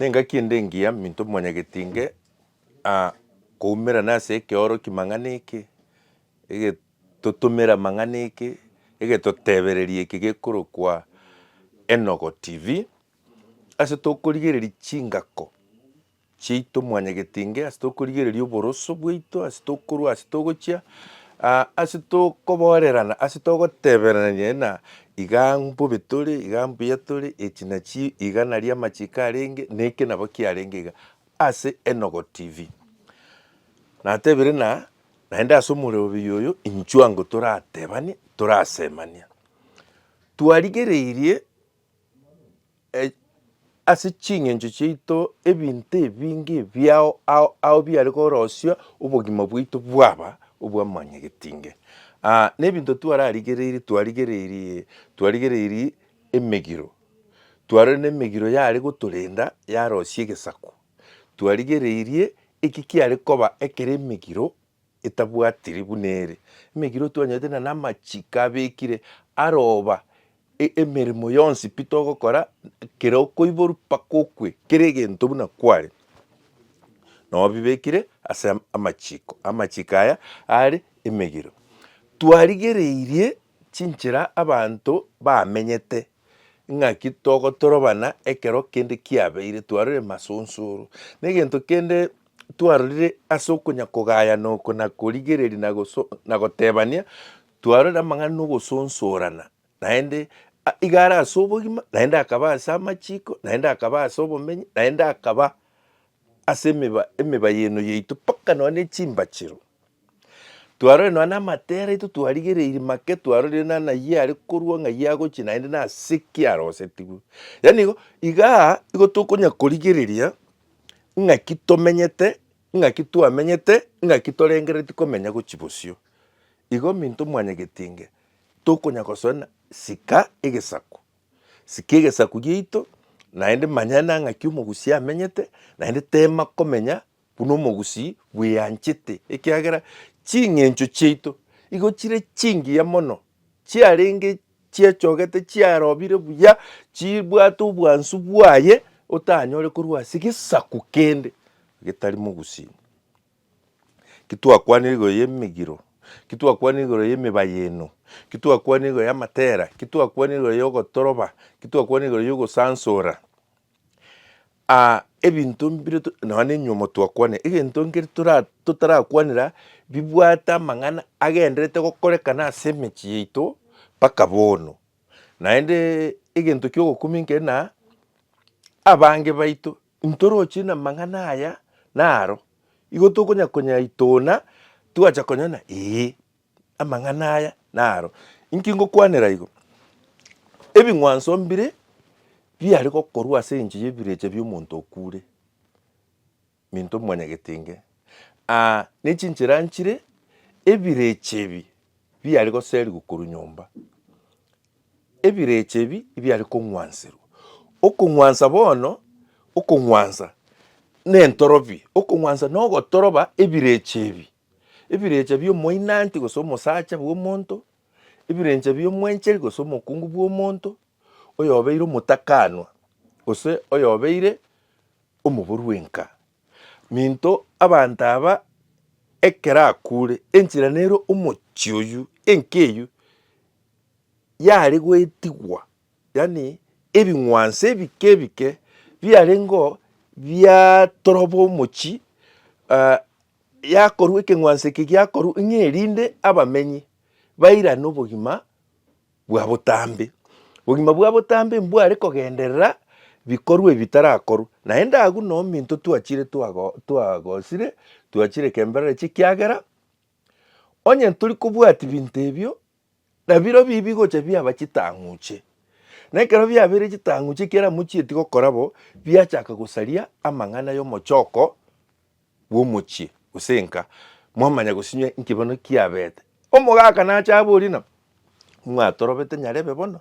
Nengaki ende engiya minto mimanyageti inge ah, koumerana ase ekeoroki mang'ana eke, egetotomera mang'ana eke, egetotebereria eke gekorokwa Enogo TV, ase tokorigereria chingako chiaito mwanyageti inge, ase tokorigereria oboroso bwaito, ase tokorwa ase togochia, ah, ase tokoborerana, ase togoteberanania na Iga mbobe tore, iga mbuya tore, echi nachi iga naria amachiko arenge, neke nabo kiarenge iga ase Enogo TV. Natebire ng'a naende ase omorerobi oyo inchuango toratebanie, torasemania. Twarigereirie. Ase ching'encho chiaito ebinto ebinge ebiao ao ao biare korosia obogima bwaito bwaba obwa mwanyagetinge. Aa nebinto twararigereiri twarigereiri twarigereiri emegiro, twarorire nemegiro yare gotorenda yarosia egesaku, twarigereirie eki kiare koba ekere emegiro. etabwatiri buna ere, emegiro twanyorete na namachiko abekire aroba, e, emeremo yonsi pi togokora, kera okoiborwa mpaka okwe, kera egento buna kware, nabo bibekire ase am, amachiko. Amachiko aya are emegiro. Twarigereirie chinchera abanto bamenyete, ng'aki togotorobana ekero kende kiabeire, twarorire masonsoro, na egento kende twarorire ase okonya-kogayana oko na korigereria na goso na gotebania, twarorire amang'ana na ogosonsorana, naende a iga are ase obogima, naende akaba ase amachiko, naende akaba ase obomenyi, naende akaba ase emeba emeba eye eno yaito mpaka nonya na echimbachero. Twarorire nonya na amatera aito twarigereiri make twarorire nonya na ayio are korwa ng'ai agochia naende nase ki arosetigwe. Yaani igo igaa igo tokonya korigereria. ng'aki tomenyete, ng'aki twamenyete, ng'aki torengereretie komenya gochia bosio. Igo minto mwanyagetinge tokonya gosoena sika egesaku, sika egesaku giaito naende manya na ng'aki omogusii amenyete naende tema komenya buna omogusii bweanchete ekiagera ching'encho chiaito igo chire chingiya mono chiarenge chiechogete chiarobire buya, chibwate obwansu bwaye, otanyore korwa ase gesaku kende getari mogusii. Ki twakwanire igoro y'emegiro? Ki twakwanire igoro y'emebayeno? Ki twakwanire igoro y'amatera? Ki twakwanire igoro y'ogotoroba? Ki twakwanire igoro y'ogosansora? ebinto mbire to nonya na enyomo twakwanire, egento nkere tora totarakwanera bibwate amang'ana agenderete gokorekana ase emechie yaito mpaka bono. Naendeee egento kia ogokumia nkere na, abange baito ntoroche na amang'ana aya naro, igo tokonya konyaitona, twacha konyora ng'a eeh. Amang'ana aya naro inki ngokwanera igo, Ebing'wanso mbire biare gokorwa ase engencho y'ebirecha bi'omonto okuure, minto mwanyagetenge, aa, ne chinchera nchire ebirecha ebi biare goserigwa korwa nyomba. Ebirecha ebi ebiare kong'wanserwa. Okong'wansa bono, okong'wansa nentorobia, okong'wansa nogotoroba ebirecha ebi. Ebirecha bi'omoinanti gose omosacha bw'omonto, ebirecha bi'omwencheri gose omokungu bw'omonto, oyobeire omotakanwa, gose oyobeire omoboru bw'enka. Minto abanto aba ekero akuure, enchera nere omochie oyio, enka eyio yare goetigwa, yaani ebing'wanso ebike ebike biarengeo biatoroba omochie yakorwa ekeng'wanso eke giakorwa ng'a erinde abamenyi bairane obogima bwa botambe. Obogima bwa botambe mbware kogenderera bikorwa ebi bitarakorwa, naende agwo na ominto twachire twago- twagosire, twachire kemberero chie ekiagera, onye ntori kobwati binto ebio, Nabirobio ebi bigocha biaba chitang'uche, na ekero biabeire chitang'uche ekiagera mochieti gokora bo, biachaka gosaria amang'ana y'omochoko bw'omochie, gose enka, mwamanya gosinywa inki bono kiabete. Omogaka nache aborie nabo, Mwatorobete nyarebe bono?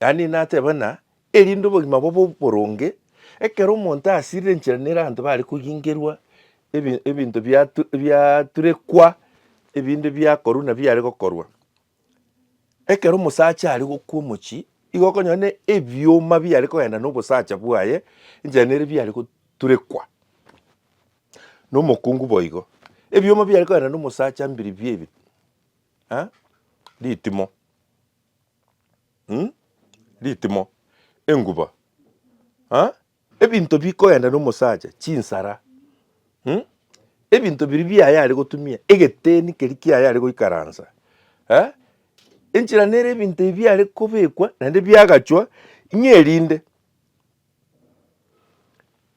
Daniel nateba ng'a erinde obogima bobe oboronge, ekero omonto asirire enchera nere abanto bare koyingerwa ebinto biaturekwa ebinde biakorwa buna biare gokorwa. Ekero omosacha are gokwa omochie, igo okonyora na ebioma biare kogenda na obosacha bwaye enchera nere biare goturekwa, na omokungu boigo. Ebioma biare kogenda na omosacha mbiribia ebi ritimo. ritimo, enguba, ebinto bikoenda nomosacha, chinsara, ebinto biria biaye are gotumia, egeteni keria kiaye are goikaransa, enchera nere ebinto ebi biare kobekwa naende biagachwa ng'a erinde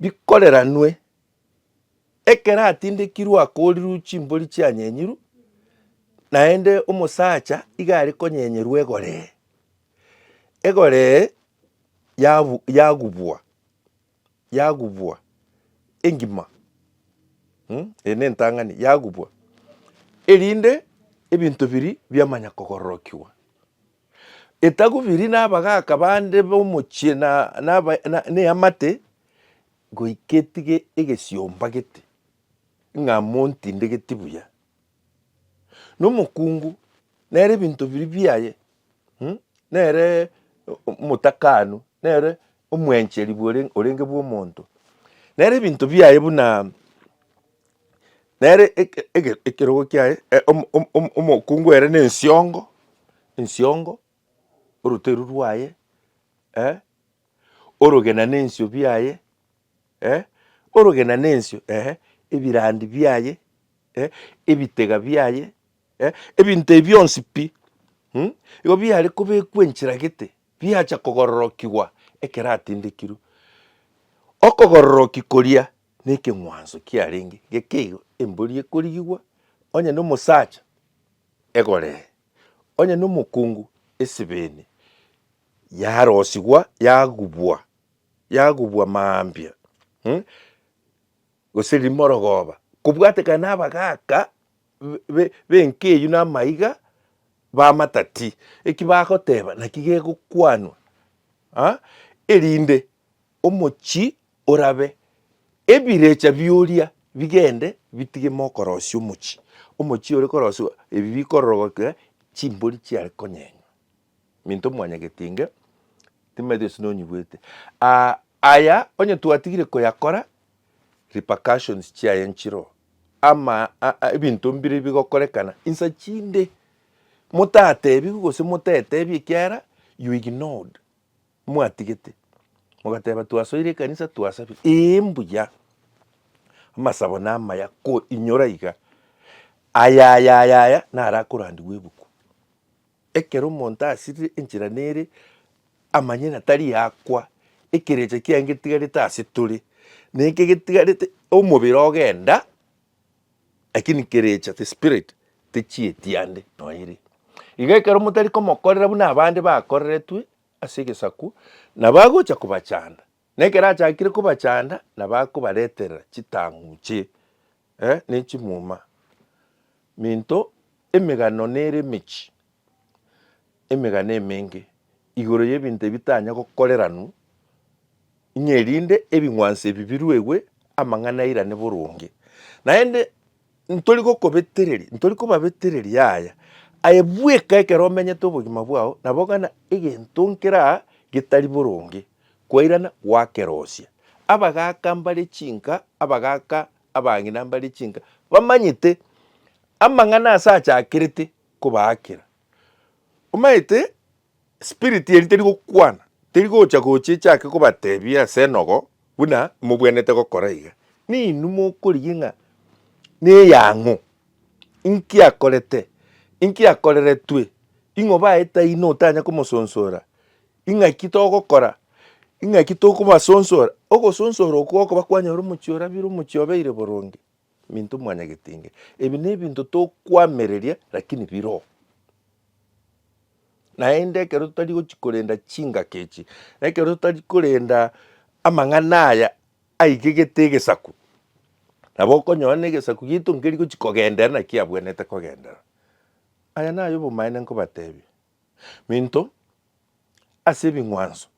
bikoreranwe. Ekero atindekirwe akoorirwe chimbori chianyenyirwe, naende omosacha iga are konyenyerwa egoree, egoree yabu yagubwa yagubwa engima mh eye ne entang'ani yagubwa, erinde ebinto biria biamanya kogororokiwa. Etagubiri na abagaka bande bomochie na na abae na eamate, Goika etige egesiomba gete, ng'a montindegeti buya, na omokungu nere ebinto biria biaye, nere omotakanu, nere omwencheri orenge bw'omonto, nere ebinto biaye buna nere ekerogo kiaye omokungu ere na ensiongo, ensiongo, oroteru rwaye. orogena nensio biaye, eh, orogena nensio, ehe, ebirandi biaye, eh, ebitega biaye, eh, ebinto ebi bionsi pi, mm, igo biare kobekwa enchera gete, biacha kogororokigwa ekero atindekirwe. Okogororoki koria na ekeng'wanso kiarenge geke igo, embori ekorigigwa, onye na omosacha egoree, onye na omokungu esebeni, yarosigwa, yagubwa, yagubwa mambia, eh, gose rimorogoba, kobwatekana na abagaka be- b'enka eyio na amaiga b'amatati, eki bagoteba naki gegokwanwa, ah, erinde omochie orabe ebirecha bi'oria bigende bitige mokorosia omochie, omochie ore korosiwa ebi bikororogokera chimbori chiare konyenya. minto mwanyagetinge, timaete gose nonyigwete. Aa aya onye twatigire koyakora, repercussions chiaye nchiro ama ebinto mbire bigokorekana insa chinde motatebigwe gose motetebia ekiagera you ignored mwatigete. Mogateba twasoire ekanisa twasabire, ee mbuya, amasabo namaya ko inyora iga, aya aya aya naro akorandigwa ebuku. Ekero omonto asirire enchera nere amanye ng'a tari akwa, ekerecha kiaye ngetigarete ase tore, neke getigarete omobere ogenda lakini kerecha the spirit techieti ande nonya ere. Igo ekero motari komokorera buna abande bakoreretwe ase egesaku, nabo agocha kobachanda Na ekero achakire kobachanda nabakobareterera chitang'uche, eh, ne chimuma, minto, emegano nere emechi, emegano emenge, igoro y'ebinto ebitanya gokoreranwa, ng'a erinde ebing'wanso ebi biruegwe, amang'ana airane boronge. Naende Ntori gokobetereria, ntori kobabetereria aya, aye bweka ekero omenyete obogima bwao, na bogana egento nkera getari boronge, kwairana gwakerosia. Abagaaka mbare chinka, abagaaka abang'ina mbare chinka, bamanyete amang'ana ase achakerete kobaakera. Omanyete? Espiriti eria teri gokwana, teri gocha gocha echake kobatebia ase enogo buna imobwenerete gokora iga. Ninwe mokorigia ng'a neyang'u, inki akorete, inki akoreretwe, ing'oba aye taino otanya komosonsora, ing'aki togokora, ing'aki tokobasonsora. Ogosonsora okwo gokoba kwanyora omochie orabire, omochie obeire boronge, minto mwanyagetinge. Ebi nebinto tokwamereria lakini biroo. Naende ekero totari gochi korenda chingaki echi, na ekero totari korenda amang'ana aya aigegete egesaku, nabo okonyora na egesaku giaito nkeri gochi kogendera naki abwenerete kogendera. Aya naye obomaene nkobatebie, minto ase ebing'wanso.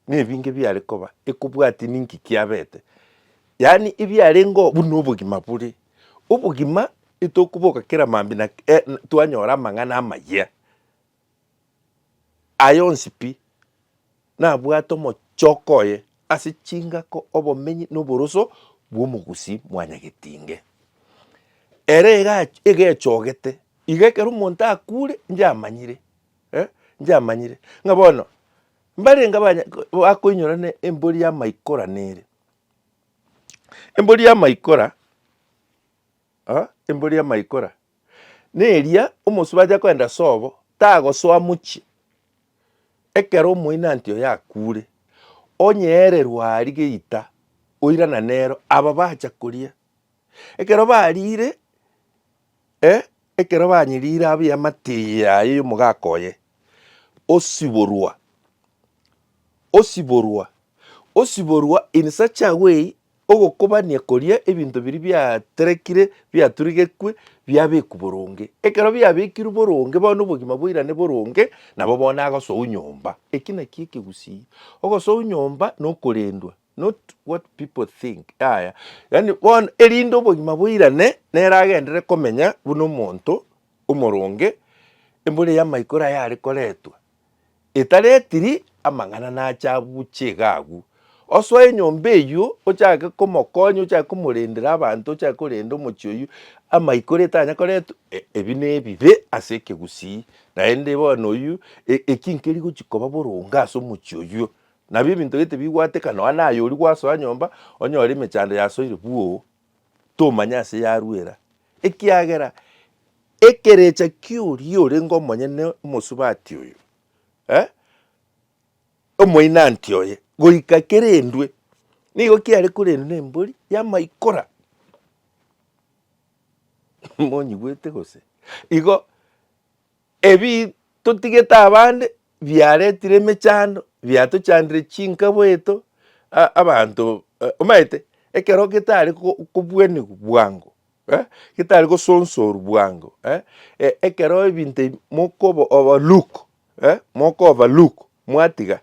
Nebinge biare koba ekobwati ninki kiabete, yaani ebiarengeo buna obogima bore. Obogima etokoboka kera mambia na twanyora amang'ana amayia. Aye onsi pi nabwate omochoko oye ase chingako, obomenyi na oboroso bwa omogusii mwanyagetinge. Ere egechogete iga ekero omonto akure inche amanyire eh, nchiamanyire, ng'a bono mbarenge abanya bakoinyora ne embori y'amaikora nere. Embori y'amaikora ah, embori y'amaikora neria omosubati aja kogenda ase obo, tagosoa mochie ekero omoinanti oye akure, onyeererwe aria geita oirana nero, aba bacha koria. Ekero bariire, E, ekero banyirire abwo eamate yaye y'omogaka oye, osiborwa, osiborwa, osiborwa in such a way ogokobania koria ebinto biria biaterekire biaturigekwe biabekwa boronge. Ekero biabekirwe boronge bono obogima boirane boronge nabo bono agosoa nyomba. Eki nakio ekegusii, ogosoa nyomba na okorendwa. not what people think, yaya. Yaani bono erinde obogima boirane, nere agenderere komenya buna omonto omoronge, embura eya maikoro aya are koretwa, etaretiri amang'ana nache abuche iga agwo. Osoe enyomba eywo ochake komokonya ochake komorendera abanto ochake korenda omochie oywo, amaikoro etanya koretwa e- ebi na ebibe ase ekegusii, naende bono oywo e- eki nkeri gochia koba boronge ase omochie oywo, Nabio ebinto gete bigwateka nonya naye oria gwasoa nyomba, onyore emechando yasoire bwoo, tomanya ase yaruera, ekiagera ekerecha kioria orenge omonyene omosubati oyo, eh, omoinanti oye, goika kerendwe, nigo kiare korendwa na embori yamaikora monyigwete gose? Igo Ebi totigete abande biaretire emechando, biatochandire chinka bweito abanto omanyete ekero getari kobuanigwa bwango, getari gosonsorwa bwango ekero ebinto ebi mokoba overlook mokoverlook mwatiga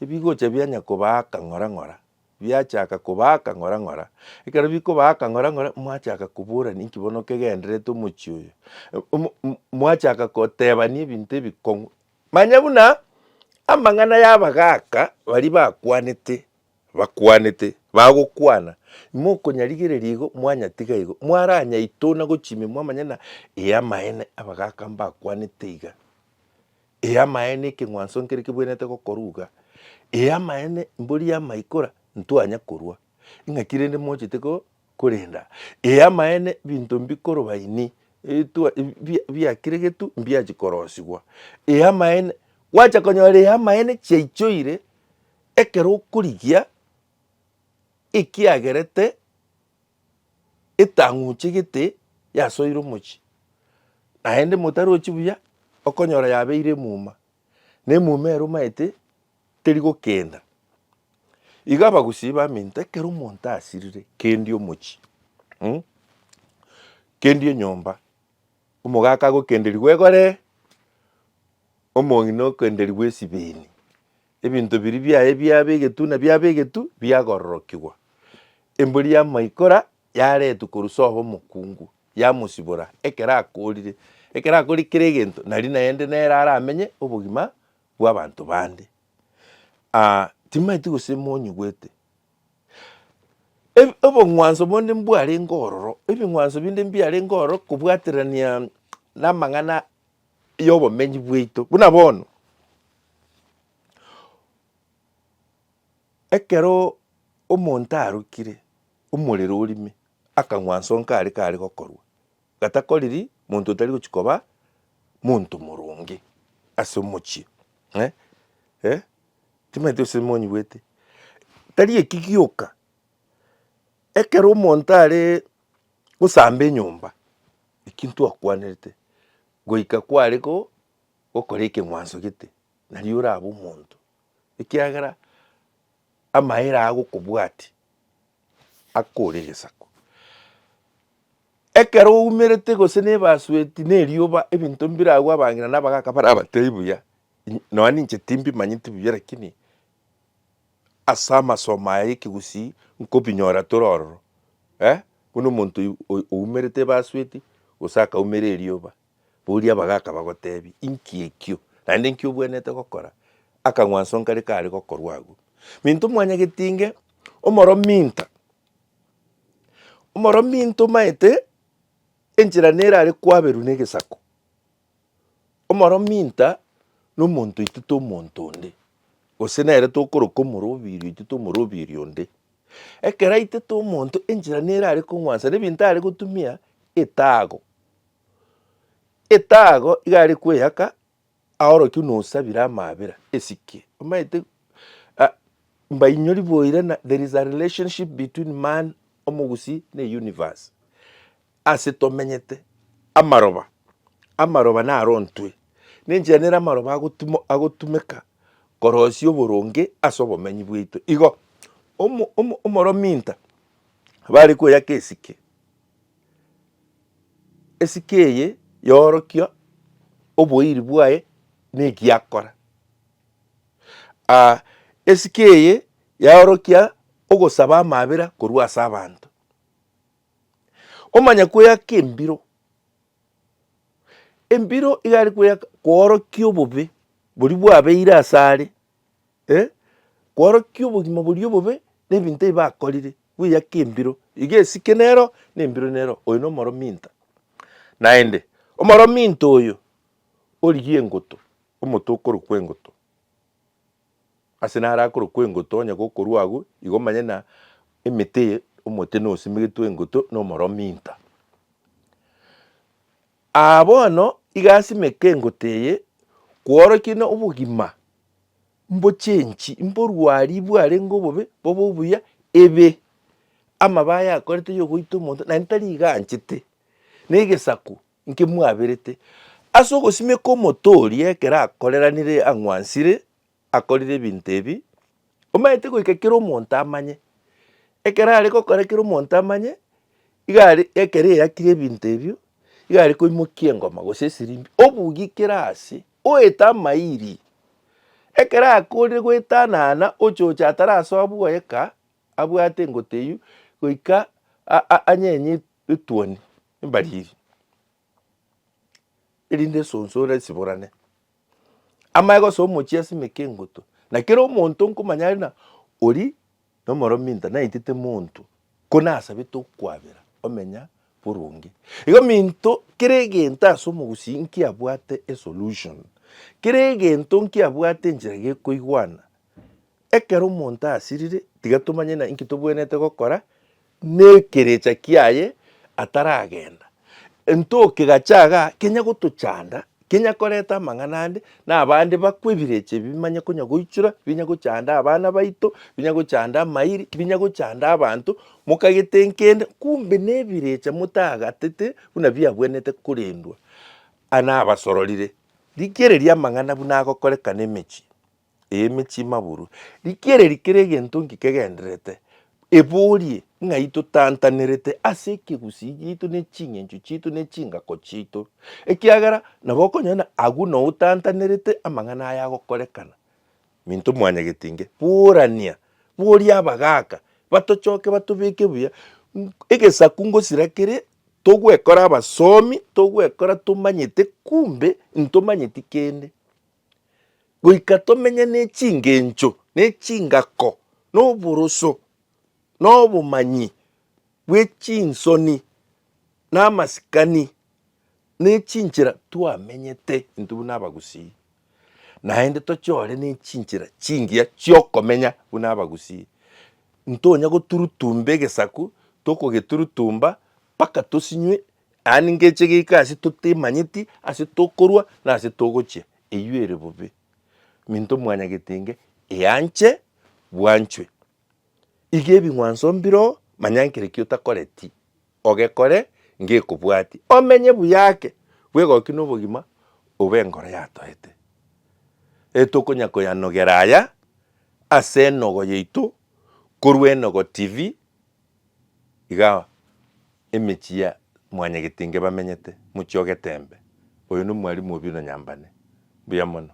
ebigocha bianya kobaa akang'ora ng'ora biachaka kobaaka ng'ora ng'ora, ekero bikobaaka ng'ora ng'ora mwachaka koborania inki bono kegendererete omochie oyo, mwachaka kotebania ebinto ebikong'u. Manya buna amang'ana y'abagaaka baria bakwanete bakwanete bagokwana, mokonyarigereria igo mwanyatiga igo, mwaranyaitona gochia ime mwamanya ng'a ee amaene abagaaka mbakwanete iga. Ee amaene ekeng'wanso nkere kebwenerete gokoruga, ee amaene mbori amaikora ntwanya korua, ing'aki rende mochete ko, korenda, ee amaene binto mbikorobainie etwa bi- biakeregetwe mbiachi korosigwa, ee amaene, gwacha konyora ee amaene chiaichoire ekero okorigia ekiagerete. Etang'uche gete yasoire omochie, naende motarochi buya okonyora yabeire emuma, na emuma ero omanyete teri gokenda. Iga abagusii baminto ekero omonto asirire kendi omochie kendi enyomba, omogaka agokenderigwa egoree, omong'ina okenderigwe esibeni. Ebinto biria biaye biabe egetu na biabe egetu biagororokigwa. Embori y'amaikora yaretwe korwa Soho Omokungu, yamosibora ekero akoorire. Ekero akoorire kera egento, nari naende nere aramenye obogima bw'abanto bande. Ah, timaeti gose monyigwete. Eb- Obong'wanso bonde mbwarenge ororo, ebing'wanso binde mbiarenge ororo kobwaterania namang'ana y'obomenyi bwaito. Buna bono, ekero omonto arokire omorero orime, akang'wa nse onka aria kare gokorwa, gatakoriri monto otari gochia koba monto moronge ase omochie eh eh timanyeti gose monyigwete. Tari eki gioka, ekero omonto are gosamba enyomba ekio ntwakwanerete goika kware ko gokora ekeng'wanso gete nario orabe omonto ekiagera amaere aa gokobwatia akore egesaku. Ekero oumerete gose na ebasueti na erioba ebinto mbire agwo abang'ina na abagaka barabatebia buya, nonya ninche timbimanyeti buya lakini. Ase amasomo aya y'ekegusii nkobinyora tore ororo, eh, buna omonto oy oumerete ebasueti gose akaumera erioba, boria abagaaka bagotebie, inki ekio? Naende inki obwenerete gokora? Akang'wanso nkare kare gokorwa agwo. Minto mwanyageti inge omoro minto, omoro minto omaete enchera nere are kwaberwa negesako. Omorominto nomonto oito tomonto onde, gose nere tokoroka omoroberio oito tomoroberio onde. Ekero aitete omonto enchera nere are kong'wansa na ebinto are gotumia etaago. Etaago iga are kweyaka aorokia buna osabire amaabera esike, omanyete mbainyori boirana there is a relationship between man omogusii na universe. Ase tomenyete amaroba, amaroba narontwe, nenchera nere amaroba agotimo agotumeka korosia oboronge ase obomenyi bwaito. Igo omo omo omorominta bare koyaka esike, esike eye yorokia oboiri bwaye na egiakora. esike eye yaorokia ogosaba amabera korwa ase abanto. Omanya kweyaka embiro, embiro iga are kweyaka koorokia obobe boria bwabeire ase are, eh, koorokia obogima boria obobe na ebinto ebi bakorire, bweyake embiro, iga esike nero na embiro nero, oyo na omorominto. Naende omorominto oyo origie engoto, omote okorokwa engoto. Ase naro akorokwa engoto, onye gokorwa agwo, igo manye na emete eye omote nosemegetwe engoto nomoromi inta. Aa bono iga asimeke engoto eye kworokia na obogima mbochenchi mborwari bwarenge obobe bobe obuya ebe amabe ayakorete yogoita omonto naende tari iga anchete na egesaku Inki mwaberete? Ase ogosimeka omote oria ekero akoreranire ang'wansire akorire ebinto ebi, omanyete goika kera omonto amanye. Ekero are gokora kera omonto amanye, iga are ekero eyakire ebinto ebio, iga are koimokia engoma gose esirimbi, obugie kera ase, oete amairi. Ekero akoorire goetanana ochoche atarasoa bwoyeka, abwate engoteyio, goika anyenye etuoni. Mbariri, erinde esonso ere esiborane amagega ase omochie asimeke engutu, na kera omonto nkomanya are na oria na omorominto naetete monto ko nasabete okwabera omenya boronge. Igo minto kera egento ase omogusii nkiabwate esolution, kera egento nkiabwate enchera gekoigwana. Ekero omonto asirire tiga tomanye na inki tobwenerete gokora nekerecha kiaye ataragenda, entoke gachaga kenya gotochanda, kenya koreta amang'ana ande, nabande bakwe ebirecha ebi bimanye konya goichora, binya gochanda abana baito, binya gochanda amairi, binya gochanda abanto, mokagete nkende, kumbe nebirecha motagatete buna biabwenerete korendwa. Aya nabasororire, rigereria amang'ana buna agokorekana emechie. ey'emechie maburu. Rikereri kera egento nki kegendererete, eborie ng'ai totantanerete ase ekegusii giaito ne ching'encho chiaito ne chingako chiaito, ekiagera nabo okonyora agwo noo otantanerete amang'ana aya agokorekana. Minto mwanyagete inge, burania, boria abagaka batochoke batobeke buya. Egesaku ngosira kere togwekora abasomi, togwekora tomanyete kumbe ntomanyeti kende. goika tomenye n'echingencho, n'echingako, n'oboroso, n'obomanyi bw'echinsoni, n'amasikani, n'echinchera twamenyete intwe buna abagusii. Naende toche ore n'echinchera chingiya chi'okomenya buna abagusii, ntonya goturutumba egesaku, tokogeturutumba mpaka tosinywe Aye ningeche geika ase totemanyeti ase tokorwa na ase togochia, eyio ere bobe. Minto mwanyagetenge eanche bwanchwe. Iga ebing'wanso mbiro manya nkereki otakoreti ogekore ngekobwati. Omenye buya ake bwegoki na obogima obe enkoro yatoete. E tokonya koyanogera aya ase enogo yaito korwa enogo TV Iga emechie ya mwanyagetinge bamenyete, mochie o geteembe, oyo nomwalimu o bino nyambane. Mbuya mono.